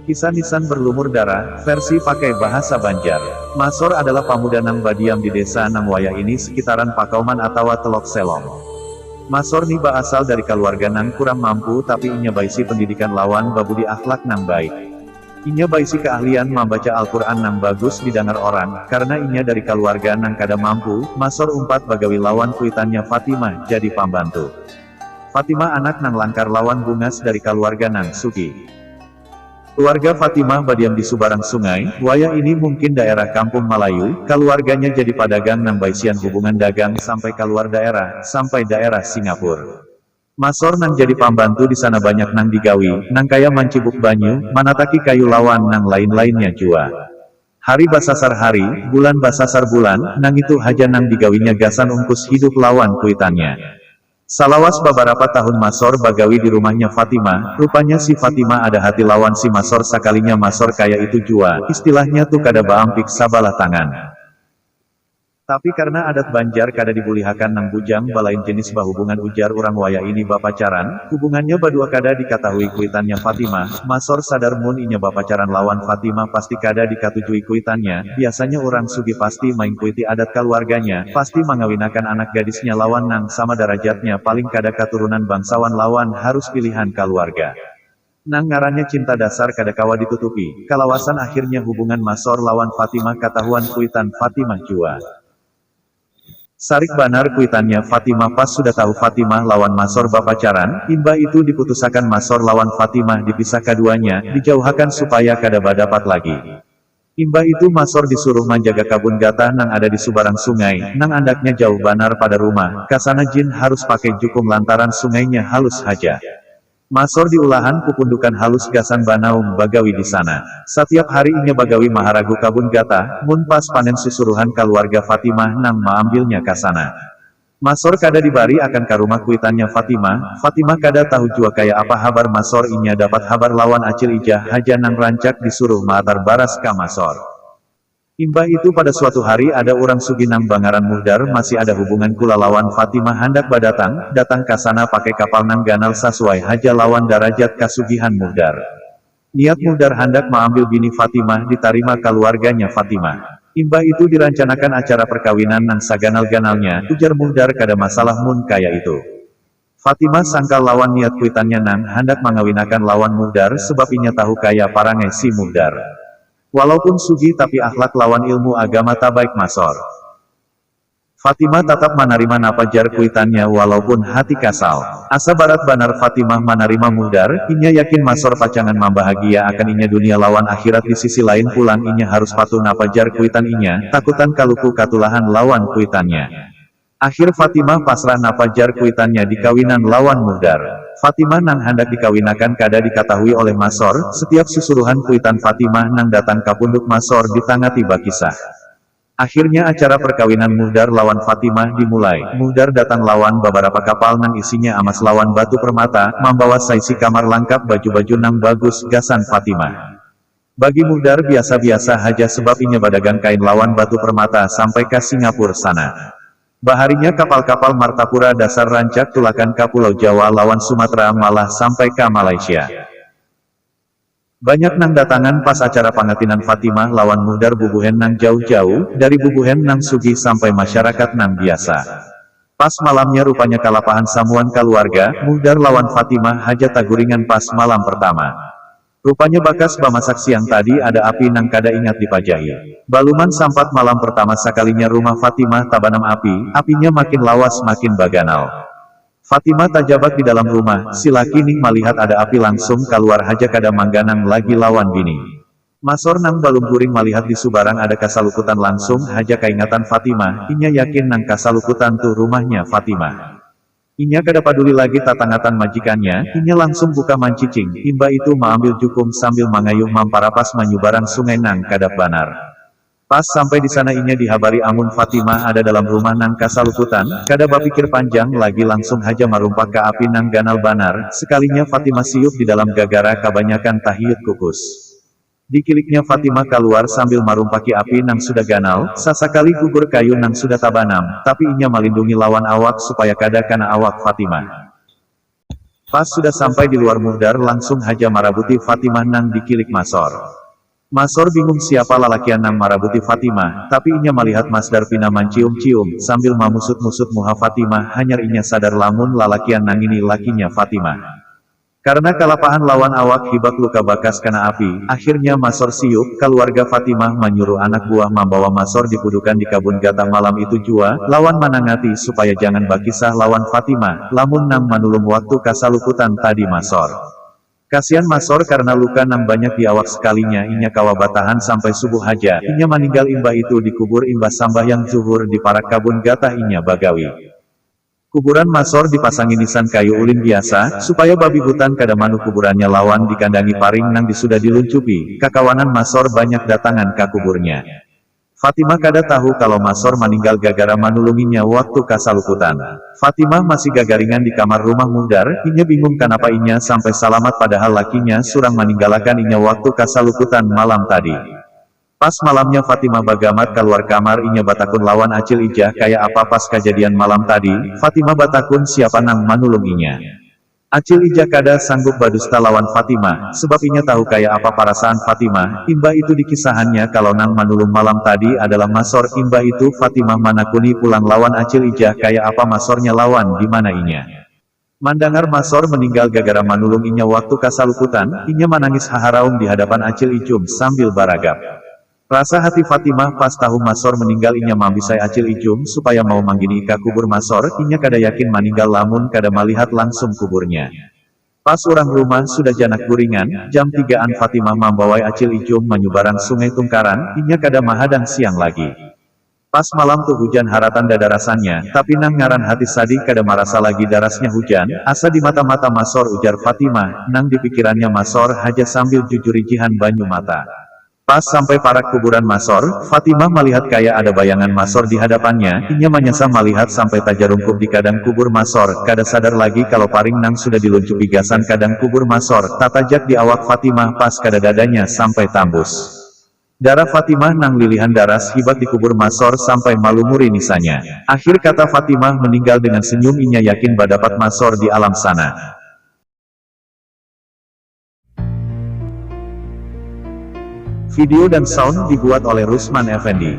Kisah Nisan Berlumur Darah, versi pakai bahasa Banjar. Masor adalah pamuda nang badiam di desa nang wayah ini sekitaran Pakauman atawa Telok Selong. Masor ni baasal dari kaluarga nang kurang mampu tapi inya baisi pendidikan lawan babudi akhlak nang baik. Inya baisi keahlian mambaca Al-Qur'an nang bagus didangar orang, karena inya dari kaluarga nang kada mampu, Masor umpat bagawi lawan kuitannya Fatimah jadi pambantu. Fatimah anak nang langkar lawan bungas dari kaluarga nang sugih. Keluarga Fatimah badiam di subarang sungai, wayah ini mungkin daerah Kampung Malayu, kaluarganya jadi padagang nang baisian hubungan dagang sampai kaluar daerah, sampai daerah Singapura. Masor nang jadi pambantu di sana banyak nang digawi, nang kaya mancibuk banyu, manataki kayu lawan nang lain-lainnya jua. Hari basasar hari, bulan basasar bulan, nangitu haja nang digawinya gasan ungkus hidup lawan kuitannya. Salawas babarapa tahun Masor bagawi di rumahnya Fatima, rupanya si Fatima ada hati lawan si Masor sakalinya Masor kaya itu jua, istilahnya tu kada baampik sabalah tangan. Tapi karna adat Banjar kada dibulihakan nang bujang balain jenis bahubungan ujar urang wayah ini bapacaran, hubungannya badua kada dikatahui kuitannya Fatimah, Masor sadar mun inya bapacaran lawan Fatimah pasti kada dikatujui kuitannya, biasanya urang sugih pasti maingkuiti adat kaluarganya, pasti mangawinakan anak gadisnya lawan nang sama darajatnya paling kada katurunan bangsawan lawan harus pilihan kaluarga. Nang ngarannya cinta dasar kada kawa ditutupi, kalawasan akhirnya hubungan Masor lawan Fatimah katahuan kuitan Fatimah jua. Sarik banar kuitannya Fatimah pas sudah tahu Fatimah lawan Masor bapacaran, imbah itu diputusakan Masor lawan Fatimah dipisah kaduanya, dijauhakan supaya kada badapat lagi. Imbah itu Masor disuruh manjaga kabun gatah nang ada di subarang sungai, nang andaknya jauh banar pada rumah, kasana Jin harus pakai jukung lantaran sungainya halus haja. Masor di ulahan pupundukan halus gasan banaum bagawi di sana. Satiap hari inya bagawi maharagu kabun gatah, mun pas panen susuruhan kaluarga Fatimah nang maambilnya kasana. Masor kada dibari akan ka rumah kuitannya Fatima, Fatima kada tahu jua kaya apa habar Masor inya dapat habar lawan Acil Ijah haja nang rancak di suruh maatar baras ka Masor. Imbah itu pada suatu hari ada urang sugih nang bangaran Muhdar masih ada hubungan kula lawan Fatima handak badatang, datang ka sana pakai kapal nang ganal sasuai haja lawan darajat kasugihan Muhdar. Niat Muhdar handak maambil bini Fatimah ditarima kaluarganya Fatimah. Imbah itu dirancanakan acara perkawinan nang saganal-ganalnya, ujar Muhdar kada masalah mun kaya itu. Fatimah sangkal lawan niat kuitannya nang handak mangawinakan lawan Muhdar sebab inya tahu kaya parangai si Muhdar. Walaupun sugih tapi akhlak lawan ilmu agama tabaik masor. Fatimah tatap manarima napa jar kuitannya walaupun hati kasal. Asa barat banar Fatimah manarima Muhdar, inya yakin Masor pacangan mambahagia akan inya dunia lawan akhirat di sisi lain pulang inya harus patuh napa jar kuitan inya, takutan kaluku katulahan lawan kuitannya. Akhir Fatimah pasrah napa jar kuitannya dikawinan lawan Muhdar. Fatimah nang handak dikawinakan kada dikatahui oleh Masor, setiap susuruhan kuitan Fatimah nang datang kapunduk Masor ditangati bakisah. Akhirnya acara perkawinan Muhdar lawan Fatimah dimulai. Muhdar datang lawan babarapa kapal nang isinya amas lawan batu permata, mambawa saisi kamar langkap baju-baju nang bagus gasan Fatimah. Bagi Muhdar biasa-biasa haja sebab inya badagang kain lawan batu permata sampai ka Singapura sana. Baharinya kapal-kapal Martapura dasar rancak tulakan ka Pulau Jawa lawan Sumatra malah sampai ka Malaysia. Banyak nang datangan pas acara pangatinan Fatimah lawan Muhdar bubuhen nang jauh-jauh, dari bubuhen nang sugih sampai masyarakat nang biasa. Pas malamnya rupanya kalapahan samuan kaluarga, Muhdar lawan Fatimah haja taguringan pas malam pertama. Rupanya bakas bamasak siang tadi ada api nang kada ingat dipajahi. Baluman sampat malam pertama sakalinya rumah Fatimah tabanam api, apinya makin lawas makin baganal. Fatimah tajabak di dalam rumah, si laki nih malihat ada api langsung kaluar haja kada mangganang lagi lawan bini. Masor nang balum guring malihat di subarang ada kasalukutan langsung haja kaingatan Fatimah, inya yakin nang kasalukutan tuh rumahnya Fatimah. Inya kada paduli lagi tatangatan majikannya, inya langsung buka mancicing, imba itu maambil jukung sambil mangayuh mamparapas manyubarang sungai nang kadap banar. Pas sampai di sana inya dihabari amun Fatimah ada dalam rumah nang kasalukutan, kada bapikir panjang lagi langsung haja marumpak ka api nang ganal banar, sekalinya Fatimah siup di dalam gagara kabanyakan tahiut kukus. Dikiliknya Fatimah kaluar sambil marumpaki api nang sudah ganal, sasakali gugur kayu nang sudah tabanam, tapi inya malindungi lawan awak supaya kada kana awak Fatimah. Pas sudah sampai di luar Muhdar langsung haja marabuti Fatimah nang dikilik masor. Masor bingung siapa lalakian nang marabuti Fatimah, tapi inya malihat Masdar pina mancium-cium, sambil mamusut-musut muha Fatimah, hanyar inya sadar lamun lalakian nangini lakinya Fatimah. Karna kalapahan lawan awak hibak luka bakas kana api, akhirnya Masor siup, kaluarga Fatimah manyuruh anak buah mambawa Masor dipudukan di kabun gata malam itu jua, lawan manangati supaya jangan bakisah lawan Fatimah, lamun nang manulung waktu kasalukutan tadi Masor. Kasian Masor karna luka nang banyak di awak sekalinya inya kawa batahan sampai subuh haja, inya maninggal imbah itu dikubur imbah sambahyang dzuhur di parak kabun gatah inya bagawi. Kuburan Masor dipasangi nisan kayu ulin biasa, supaya babi hutan kada manuh kuburannya lawan dikandangi paring nang disudah diluncupi, kakawanan Masor banyak datangan ka kuburnya. Fatimah kada tahu kalo Masor maninggal gagara manulunginya waktu kasalukutan. Fatimah masih gagaringan di kamar rumah Muhdar, inya bingung kanapa inya sampai salamat padahal lakinya surang maninggalakan inya waktu kasalukutan malam tadi. Pas malamnya Fatimah bagamat kaluar kamar inya batakun lawan Acil Ijah kaya apa pas kajadian malam tadi, Fatimah batakun siapa nang manulung inya. Acil Ijah kada sanggup badusta lawan Fatimah, sebab inya tahu kaya apa parasaan Fatimah, imbah itu dikisahannya kalo nang manulung malam tadi adalah Masor, imbah itu Fatimah manakuni pulang lawan Acil Ijah kaya apa Masornya lawan dimana inya. Mandangar Masor meninggal gagara manulung inya waktu kasalukutan, inya manangis haharaum dihadapan Acil Ijum sambil baragap. Rasa hati Fatimah pas tahu Masor meninggal inya mambisai Acil Ijum supaya mau manggini ka kubur Masor, inya kada yakin maninggal lamun kada malihat langsung kuburnya. Pas urang rumah sudah janak guringan, jam tiga an Fatimah mambawai Acil Ijum manyubarang Sungai Tungkaran, inya kada mahadang siang lagi. Pas malam tu hujan haratan dadarasannya, tapi nang ngaran hati sadih kada marasa lagi darasnya hujan, asa di mata-mata masor ujar Fatimah, nang di pikirannya masor haja sambil jujurijihan banyu mata. Pas sampai parak kuburan masor, Fatimah malihat kaya ada bayangan masor di hadapannya, inya manyasa malihat sampai tajarungkup di kadang kubur masor, kada sadar lagi kalo paring nang sudah diluncupi gasan kadang kubur masor, tatajak di awak Fatimah pas kada dadanya sampai tambus. Darah Fatimah nang lilihan daras hibat di kubur Masor sampai malumuri nisanya. Akhir kata Fatimah meninggal dengan senyum inya yakin badapat Masor di alam sana. Video dan sound dibuat oleh Rusman Effendi.